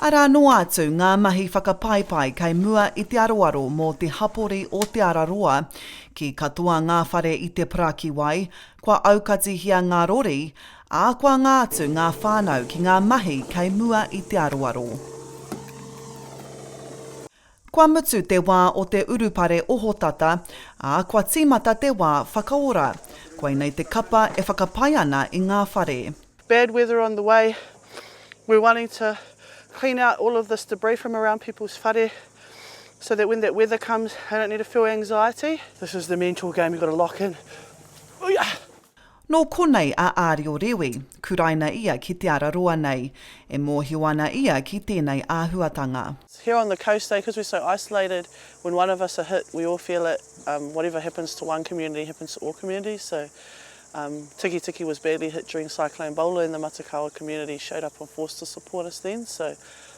Arā noa atu ngā mahi whakapaipai kei mua i te aroaro mō te hapori o Te Ara Roa. Ki katoa ngā whare i te parakiwai, kua aukatihia ngā rori, ā, kua anga atu ngā whānau ki ngā mahi kei mua i te aroaro. Kua mutu te wā o te urupare ohotata, ā, kua tīmata te wā whakaora. Koinei te kapa e whakapae ana i ngā whare. Bad weather on the way, we're wanting to clean out all of this debris from around people's whare so that when that weather comes they don't need to feel anxiety. This is the mental game you've got to lock in. Uia! Nō konei a Ārio Rewi, kuraina ia ki Te Araroa nei. E mōhio ana ia ki tēnei āhuatanga. Here on the coast eh cause we're so isolated when one of us are hit we all feel it um whatever happens to one community happens to all communities so um Tikitiki was badly hit during cyclone Bola and the Matakawa community showed up on force to support us then so